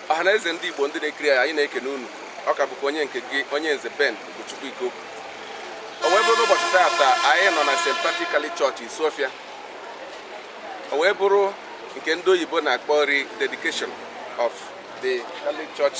ọha na eze ndị Igbo ndị na-ekiri anyị na-ekene unu ọ ka bụkwa onye nke gị onye nze Ben Ugochukwu Ikoku o wee bụrụ ụbọchị taata anyị nọ na St. Patrick Catholic Church Isuofia o wee bụrụ nke ndị oyibo na-akpọ rededication of the Catholic Church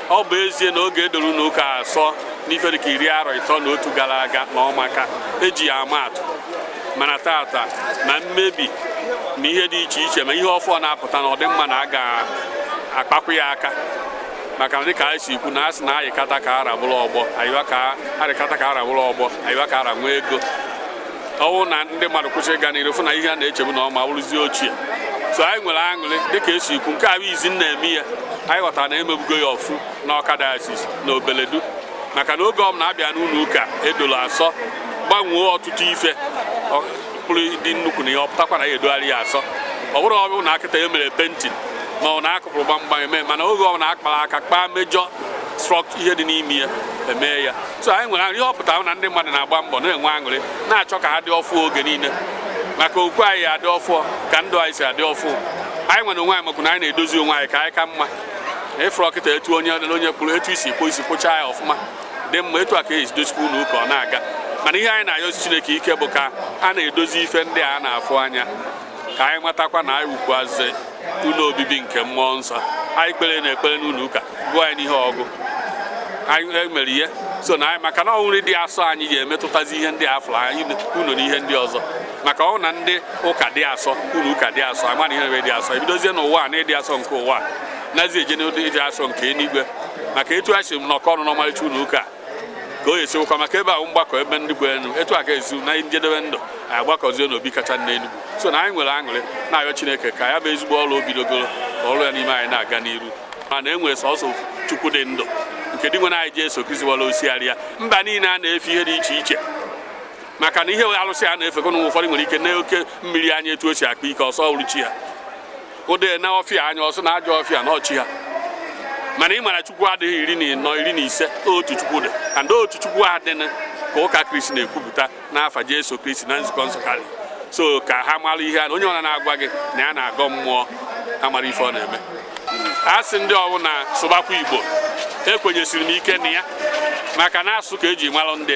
ọ bụ ezie na oge edoro ụnọ ụka asọ n'ife dịka iri arọ ịtọ na otu gara aga na ọ maka eji ya ama atụ mana taata ma mmebi na ihe dị iche iche ma ihe ọfụ na-apụta na ọ dị mma na a ga-akpakwu ya aka maka na dịka anyị si ekwu na a sị na ayịkata ka ara bụrụ ọgbọ arịkata ka ara bụrụ ọgbọ ayịwa ka ara nwee ego ọ wụ na ndị mmadụ kwụsị ịga n'iru fụ na ihe a na-echebu na ọma wụrụzie ochie so anyị nwere aṅụrị dịka esi ekwu nke a bụ izi na-eme ya anyị ghọtara na emebugo ya ọfụ na Awka diocese na Obeledu maka na oge ọbụla abịa n'ụnọ ụka edolo asọ gbanwee ọtụtụ ife pụrụ dị nnukwu na ihe ọ pụtakwa na ya edogharị ya asọ ọ bụrụ ọ bụ na akịta e mere painting ma ọ na akụpụrụ gbamgbam eme mana oge ọbụna akpara aka kpaa major struct ihe dị n'ime ya emee ya so anyị nwere ihe ọ pụtara na ndị mmadụ na-agba mbọ na-enwe aṅụrị na-achọ ka ha dị ọfụ oge niile maka okwu anyị adị ọfụ ka ndụ anyị si adị ọfụ anyị nwere onwe anyị makwu na anyị na-edozi onwe anyị ka anyị ka mma ị fụrụ ọkịta etu onye onye kwuru etu i si kpụọ isi kpụchaa ya ọfụma dị mma etu a ka esi dozikwa ụnọ ụka ọ na-aga mana ihe anyị na-ayọzi Chineke ike bụ ka a na-edozi ife ndị a na-afụ anya ka anyị matakwa na anyị wụkwazị ụnọ obibi nke mmụọ nsọ anyị kpere na ekpere n'ụnọ ụka gụọ anyị n'ihe ọgụgụ anyị e mere ihe so na anyị maka na onwe anyị dị asọ anyị ga-emetụtazi ihe ndị afụrụ anya ụnọ na ihe ndị ọzọ maka ọ wụ na ndị ụka dị asọ ụnọ ụka dị asọ ama na ihe na-eme dị asọ ebidozie n'ụwa na ịdị asọ nke ụwa nazi eje n'ụdị ịdị asọ nke eluigwe maka etu a si nọkọ ọnụ n'ọmarịcha ụnọ ụka ka o esiwụkwa maka ebe ahụ mgbakọ ebe ndị bụ enu etu a ga-ezu na njedebe ndụ anyị agbakọzie n'obi kacha enu so na anyị nwere aṅụrị na-ayọ Chineke ka ya bụ ezigbo ọrụ o bidogoro ka ọrụ ya n'ime anyị na-aga n'iru mana e nwere sọsọ Chukwu dị ndụ nke Dinwenụ anyị Jesu Kristi wara osigharị ya mba niile a na-efe ihe dị iche iche maka na ihe alụsị a na-efekọ n'ụwa ụfọdụ nwere ike nee oke mmiri anya etu o si akpa ike ọ sị ọ wụrụ chi ya odee nee ọfịa anya ọ sị na ajọ ọfịa na ọ chi ha mana ị mara chukwu adịghị iri na ịnọ iri na ise otu chukwu dị and otu chukwu a dị ka ụka kristi na-ekwupụta n'afa jesu kristi na nzukọ nsọ katọlik so ka ha mara ihe a na onye ọbụna na-agwa gị na ya na-agọ mmụọ ha mara ife ọ na-eme a sị ndị ọbụla sụbakwa igbo ekwenyesiri m ike na ya maka na asụsụ ka eji malụ ndị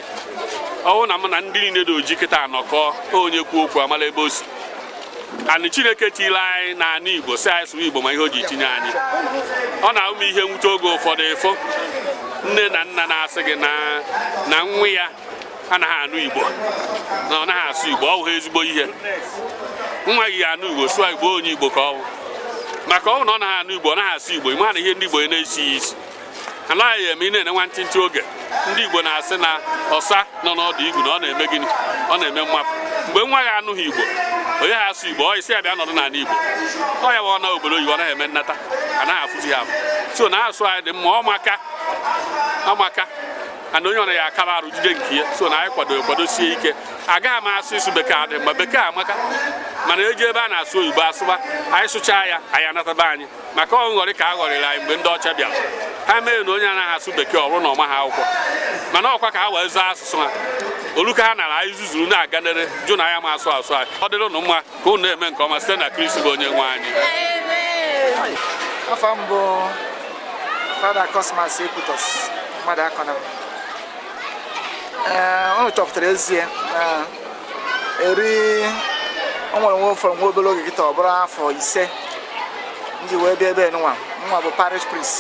ọwụna m na ndị niile dị oji kịta anọkọ onye kwuo okwu amala ebe o si anyị chineke tiri anyị na anị igbo sị anyị sụwa igbo ma ihe o ji tinye anyị ọ na-awụ m ihe nwute oge ụfọdụ ị fụ nne na nna na-asị gị na nwa ya anaghị anụ igbo na ọ naghị asụ igbo ọ bụghị ezigbo ihe nwa gị anụ igbo sụọ igbo onye igbo ka ọ bụ maka ọ wụ na ọ naghị anụ igbo ọ naghị asụ igbo ị ma na ihe ndị igbo na-esi ya isi anaghị eme ị na-ene nwa ntịntị oge ndị Igbo na-asị na ọsa nọ n'ọdụ igu na ọ na-eme gịnị ọ na-eme mmapụ mgbe nwa ya anụghị Igbo ọ naghị asụ Igbo ị sị ya bịa nọdụ n'ala Igbo ọ ya ọ nọ obodo oyibo ọ naghị eme nnata anaghị afụzi ya afụ so na asụ anyị dị mma ọ maka amaka ana onye ọbụna ya akara arụ jide nke ya so na anyị kwado kwadosie ike agaghị m asị ịsụ bekee adị mma bekee amaka mana e jee ebe a na-asụ oyibo a sụba anyị sụchaa ya anyị anata be anyị maka ọ nghọrị ka a ghọrịrị anyị mgbe ndị ọcha bịara ha mere na onye anaghị asụ bekee ọ bụrụ na ọ maghị akwụkwọ mana ọ kwa ka ha wee zọọ asụsụ ha o rue ka ha nara anyị zuzuru na-aga n'iru jụ na anyị ama asụ asụ anyị ọ dịrị ụnụ mma ka ụnụ na-eme nke ọma site na Kristi bụ onye nwe anyị afa m bụ fada Cosmas Ekwutọsị Mmadụakọnam ee, unu chọpụtara ezie na eri o nwere nwa ọ fọrọ nwa obere oge kịta ọ bụrụ afọ ise m ji wee bịa ebe nụwa bụ parish priest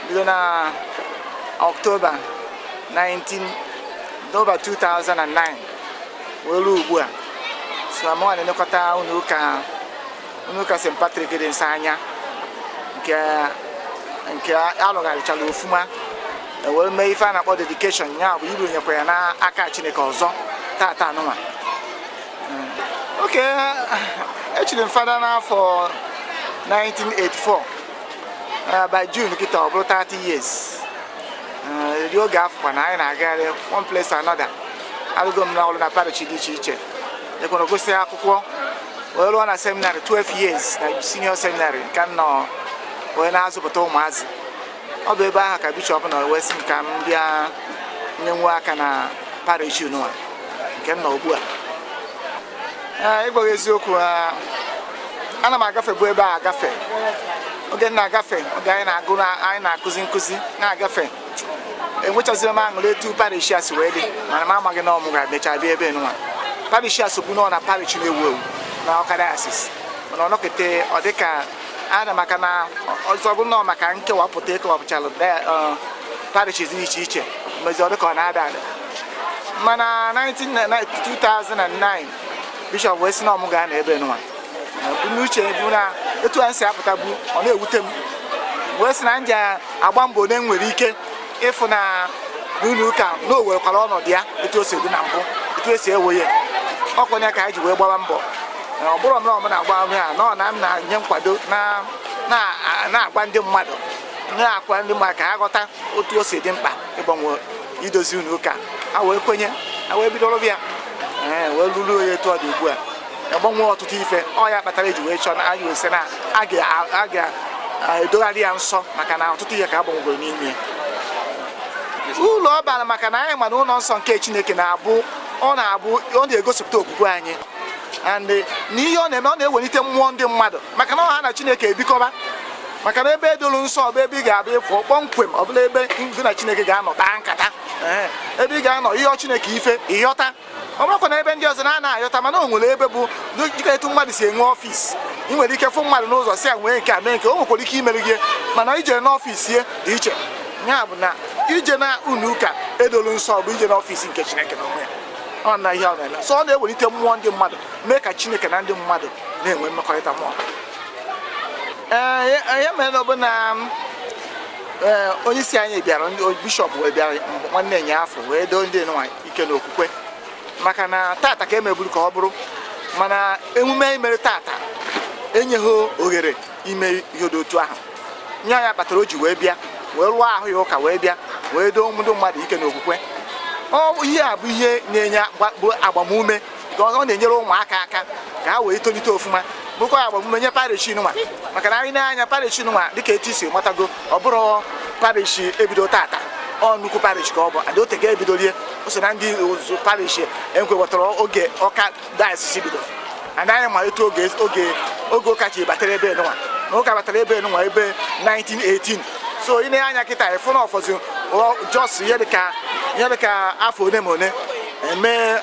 bido na ọktoba 19 ọktoba 2009 wee ruo ugbu a sọ mụwa na-elekọta ụlọ ụka Ụnọ ụka St. Patrick dị nsọ anyị a nke a lụgharịchara ofuma e wee mee ife a na-akpọ dedication ya bụ ịranyekwa ya n'aka Chineke ọzọ tata anụnwa oke e chiri m fada n'afọ 1984 eh, by June kịta ọ bụrụ 30 years eri eh, oge afụkwa na anyị na-agagharị one place to another alụgo m na ọrụ na parish dị iche iche ekwere gụsịa akwụkwọ wee lụọ na seminary 12 years na senior seminary nke m nọ wee na-azụpụta ụmụazị ọ bụ ebe ahụ ka bishọp nọ wee sị m ka m bịa nye nwa aka na parish nụwa nke m nọ ugbu a Ee, ịgwa gị eziokwu ah, ana m agafebu ebe a agafe oge m na-agafe oge anyị na-agụ na- anyị na-akụzi nkụzi na-agafe enwechaziri m aṅụrị etu parish a si wee dị mana m amaghị na ọ mụ ga-emecha bịa ebe nụwa parish a sobu nọ na parish na-ewu ewu na Awka diocese mana ọ nọkata ọ dịka ana maka na ọzọ bụ nọ maka nkewapụta e kewapụchalụ parish dị iche iche mezi ọ dịka ọ na-ada ada mana 2009 bishọp wee sị na ọ mụ ga-anọ ebe nwa ebumnuche bụ na etu anyị si apụta bụ ọ na-ewute m wee sị na m ji agba mbọ onye nwere ike ịfụ na n'ụlọ ụka na o werekwara ọnọdụ ya etu o si dị na mbụ etu e si ewu ya ọ kwa nya ka anyị ji wee gbawa mbọ ọ bụrọ na ọ mụ na-agba ahụ ya nọ na m na-enye nkwado na-agwa ndị mmadụ na-akwa ndị mmadụ ka ha ghọta otu o si dị mkpa ịgbanwe idozi ụnọ ụka ha wee kwenye ha wee bido rụba ya wee lụrụ ya etu ọ dị ugbu a agbanwe ọtụtụ ife ọ ya kpatara e ji wee chọọ na anyị wee sị na a ga-edogharị ya nsọ maka na ọtụtụ ihe ka agbanwegoro n'ime ụlọ ọ bara maka na anyị ma na ụlọ nsọ nke Chineke na-abụ ọ na-abụ ọ na-egosipụta okwukwe anyị and na ihe ọ na-eme ọ na-ewelite mmụọ ndị mmadụ maka na ọ ha na Chineke ebikọba maka na ebe e dolu nsọ ọ bụ ebe ị ga-abịa ị fụ kpọmkwem ọ bụrụ ebe gị na Chineke ga-anọ kpaa nkata ebe ị ga-anọ ị yọọ Chineke ife ị yọta ọ bụrọkwa na ebe ndị ọzọ na-ana ayọta mana o nwere ebe bụ dịka etu mmadụ si enwe ọfịs ị nwere ike fụ mmadụ n'ụzọ sị ya mee nke a mee nke o nwekwara ike imere gị mana ije n'ọfịs ya dị iche ya bụ na ije na ụnọ ụka e dolu nsọ bụ ije n'ọfịs nke Chineke na onwe ya ọ na ihe ọ na-eme so ọ na-ewelite mmụọ ndị mmadụ mee ka Chineke na ndị mmadụ na-enwe mmekọrịta mmụọ ee ya mere na ọ bụ na onye isi anyị bịara bishọp wee bịara nwanne nyaafụ wee doo ndị nwa ike na okwukwe maka na tata ka emeburu ka ọ bụrụ mana emume anyị mere tata enyeghị ohere ime ihe dị otu ahụ nya kpatara o ji wee bịa wee lụọ ahụ ya ụka wee bịa wee doo ndị mmadụ ike na okwukwe ihe a bụ ihe na-enye agbamume ọ na-enyere ụmụaka aka ka ha wee tolite ọfụma bụkwa agbamume nye parish nwa maka na anyị nee anya parish nwa dịka etu i si matago ọ bụrọ parish e bido tata ọ nnukwu parish ka ọ bụ and o tego e bidolu ya o so na ndị old parish e kewetara oge Ọka dayọsis bido and anyị ma etu oge oge oge ụka ji batara ebe nwa na ụka batara ebe nwa ebe 1918 so ị nee anya kịta ị fụ na ọ fọzi just ihe dịka afọ one ma one e mee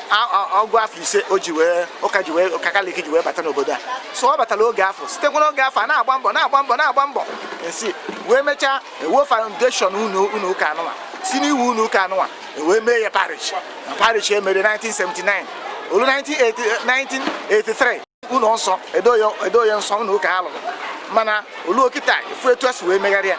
ọgụ afọ ise o ji wee ụka ji wee ụka Katọlik ji wee bata n'obodo a so ọ batara oge afụ sitekwa n'oge afụ a na-agba mbọ na-agba mbọ na-agba mbọ e si wee mechaa ewuo foundation ụnọ ụka anụnwa si n'iwu ụnọ ụka anụnwa e wee mee ya parish na parish e mere 1979 o luo 1983 ụlọ nsọ e doo ya nsọ ụlọ ụka a lụrụ mana o luo kịta a fụ etu e si wee megharị ya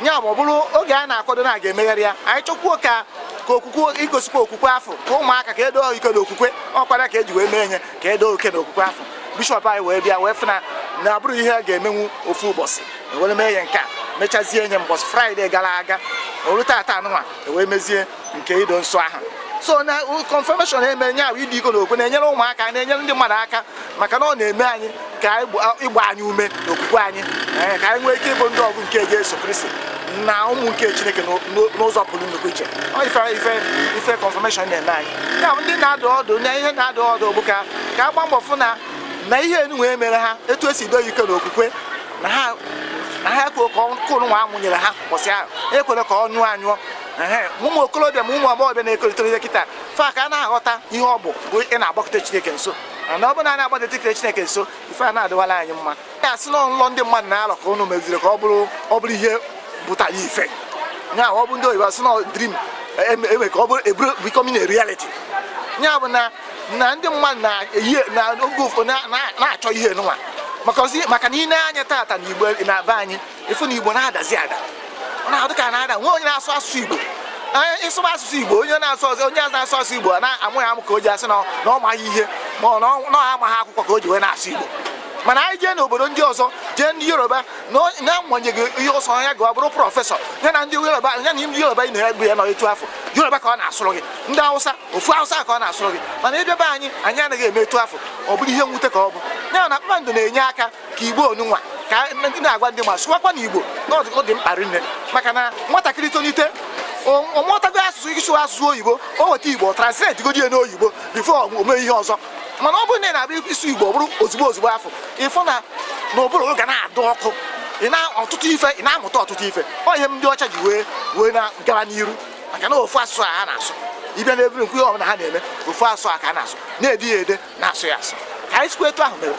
nya bụ ọ bụrụ oge a na-akwado na a ga-emegharị ya anyị chọkwuo ka ka okwukwe igosikwa okwukwe afụ ka ụmụaka ka e doo ike na okwukwe ọ kwa nya ka e ji wee mee nya ka e doo ike na okwukwe afụ bishọp anyị wee bịa wee fụ na na ọ bụrọ ihe a ga-emenwu ofu ụbọchị e were mee ya nke a mechazie nya mbọchị fraịde gara aga o luo tata anụnwa e wee mezie nke ido nsọ ahụ so na confirmation eme nya bụ ido ike na okwukwe na-enyere ụmụaka na-enyere ndị mmadụ aka maka na ọ na-eme anyị ka ịgba anyị ume na okwukwe anyị eh, ka anyị nwee ike ịbụ ndị ọgụ nke Jesu Kristi na ụmụ nke Chineke n'ụzọ pụrụ nnukwu iche ife ife ife confirmation na-eme anyị ya bụ ndị na-adụ ọdụ na ihe na-adụ ọdụ bụ ka ka agba mbọ fụ na na ihe nụnwa e mere ha etu esi do ike na okwukwe na ha na ha ekwe ka ọkụ nwa amụnyere ha ụbọchị ahụ ekwere ka ọ nyụọ anyụọ ụmụ okorobịa ma ụmụ agbọghọbịa na-etolite kịta fa ka a na-aghọta ihe ọ bụ bụ ị na-agbakọta Chineke nso na ọ bụrụ na a na-agbada tikere Chineke nso ife a na-adịwala anyị mma ya asị na nlọ ndị mmadụ na-alọ ka ụnụ meziri ka ọ bụrụ ọ bụrụ ihe pụtara ife ya ọ bụ ndị oyibo asị na dream enwe ka ọ bụrụ eburu becoming a reality ya bụ na na ndị mmadụ na-eyi na oge ụfọdụ na-achọ ihe nụnwa maka na i nee anya tata na igbo na be anyị ị fụ na igbo na-adazi ada ọ na-adụ ka na ada enwe onye na-asụ asụsụ igbo Ee, ịsụba asụsụ igbo onye na-asụ ọzọ onye na-asụ asụsụ igbo a na-amụ ya amụ ka o ji asị na na ọ maghị ihe ma ọ na ọ- na ọ amaghị akwụkwọ ka o ji wee na-asụ igbo mana anyị jee n'obodo ndị ọzọ jee ndị yoruba na ọ- na-agbanyeghị ihe ọ sọ ya ya bụrụ prọfesọ ya na ndị yoruba ya na ndị yoruba ị na-egbu ya nọ etu afụ yoruba ka ọ na-asụrụ gị ndị awụsa ọ bụ awụsa ka ọ na-asụrụ gị mana ebe be anyị anyị anaghị eme etu afụ ọ bụrụ ihe mwute ka ọ bụ ya na kpakpando na-enye aka ka igbo nụnwa ka ndị na-agwa ndị mmadụ sụwakwanụ igbo na ọ dị mkpa rinne maka na nwatakịrị tolite ọ mụtago asụsụ ịsụ asụsụ oyibo o weta igbo translate godi ya n'oyibo before o mee ihe ọzọ mana ọ bụrụ na ị na-abịa ịsụ igbo ọ bụrụ ozugbo ozugbo afụ ị fụ na ụbụrụ gị na-adụ ọkụ ị na ọtụtụ ife ị na-amụta ọtụtụ ife ọ ihe ndị ọcha ji wee wee na-aga n'iru maka na ofu asụsụ a ha na-asụ ị bịa n'ebiri nkwu ihe ọbụla ha na-eme ofu asụsụ a ka a na-asụ na-ede ya ede na-asụ ya asụ ka anyị sikwa etu ahụ mere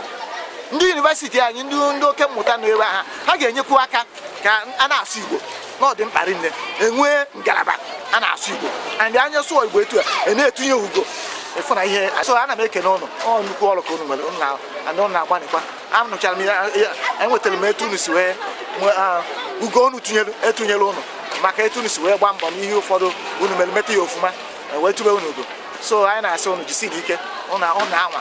ndị yunivesiti anyị ndị ndị oke mmụta nọ ebe ha ha ga-enyekwu aka ka a na-asụ igbo na ọ dị mkpa rinne e nwee ngalaba a na-asụ igbo and anyị asụọ igbo etu a a na-etunye ugo ị fụ na ihe so ana m ekene ụnụ ọ nnukwu ọrụ ka unu nwere ụnụ na- andị ụnụ na-agbanịkwa anụchara m ya ya- enwetara m etu unu si wee nwee, ah, ugo unu tinyere e tunyere ụnụ maka etu unu si wee gbaa mbọ n'ihe ụfọdụ unu mere meta ya ọfụma wee tube unu ugo so anyị na-asị unu jisinụ ike unu anwa